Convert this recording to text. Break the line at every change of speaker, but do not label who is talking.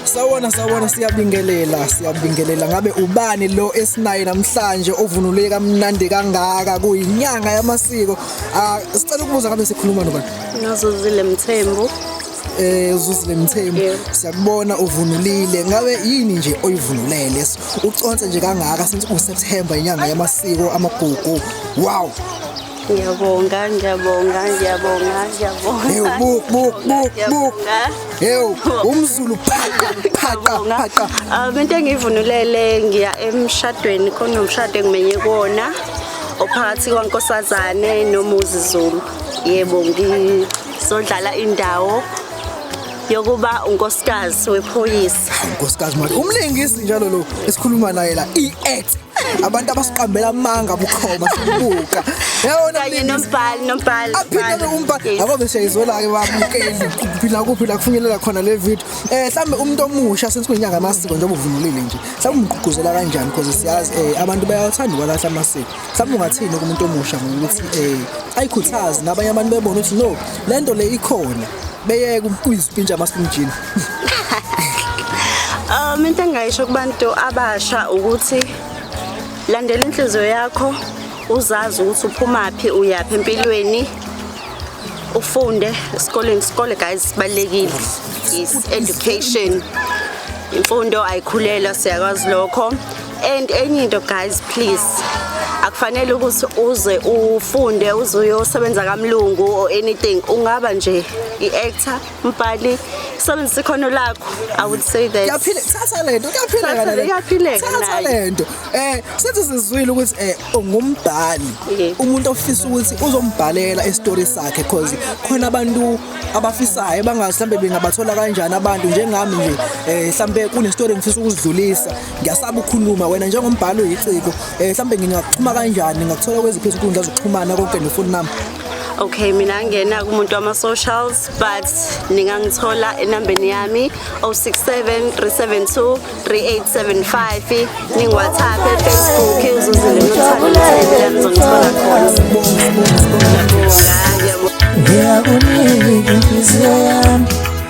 sawona sawona siyabingelela siyabingelela ngabe ubani lo esinaye namhlanje ovunule kamnandi kangaka kuyinyanga yamasiko ah sicela ukubuza ngabe sikhuluma nobani Ngazozile
Mthembu. eh
uzuzile mthembu Yebo. siyakubona uvunulile ngabe yini nje oyivunulele So, uconse nje kangaka since uSeptember inyanga yamasiko amagugu wow Ngiyabonga,
ngiyabonga, ngiyabonga, ngiyabonga. Hey, buk,
buk, buk, buk. Hey, umzulu phaqa, phaqa, phaqa. Ah, into
engivunulele ngiya emshadweni khona umshado engimenye kuona ophakathi kwaNkosazane noMuzi Zulu. Yebo, ngizodlala indawo yokuba unkosikazi wephoyisa unkosikazi manje
umlingisi njalo lo esikhuluma naye la i-act abantu abasiqambela amanga bukhoma sibuka yabona kanye nombhali
nombhali aphinde umbhali
akobe siyayizwela-ke babukeli phila kuphi la kufinyelela khona le video um mhlawumbe umuntu omusha since kuyinyanga amasiko njengoba uvunulile nje mhlawumbe umgqugquzela kanjani because siyazi um abantu bayawathanda ukwalahla amasiko mhlawumbe ungathini kumuntu omusha ngokuthi um ayikhuthazi nabanye abantu bebona ukuthi no le nto le ikhona beyeke ukuyizipintsha amasimjini
um into engingayisho kubantu abasha ukuthi landela inhliziyo yakho uzazi ukuthi uphumaphi uyaphi empilweni ufunde esikoleni isikole guys sibalekile is education imfundo ayikhulelwa siyakwazi lokho and enye into guys please akufanele ukuthi uze ufunde uze uyosebenza kamlungu or anything ungaba nje i-actor mbhali sebenzisa ikhono lakho i would say that yaphile thatha lento
kuyaphileka le iyaphileka thatha lento eh senze sizwile ukuthi eh ungumbhali umuntu ofisa ukuthi uzombhalela istory sakhe because khona abantu abafisayo bangazi mhlambe bengabathola kanjani abantu njengami nje eh mhlambe kunestory ngifisa ukuzidlulisa ngiyasaba ukukhuluma wena njengombhalo yiciko eh mhlambe ngingakuxhuma kanjani ngakuthola kweziphi izinkundla zokuxhumana konke nefoni nami okay mina
ngena kumuntu wama socials but ningangithola enambeni yami 0673723875 ning WhatsApp e Facebook uzuzile nothando lami ngizongithola
khona ngiyakunika inhliziyo yami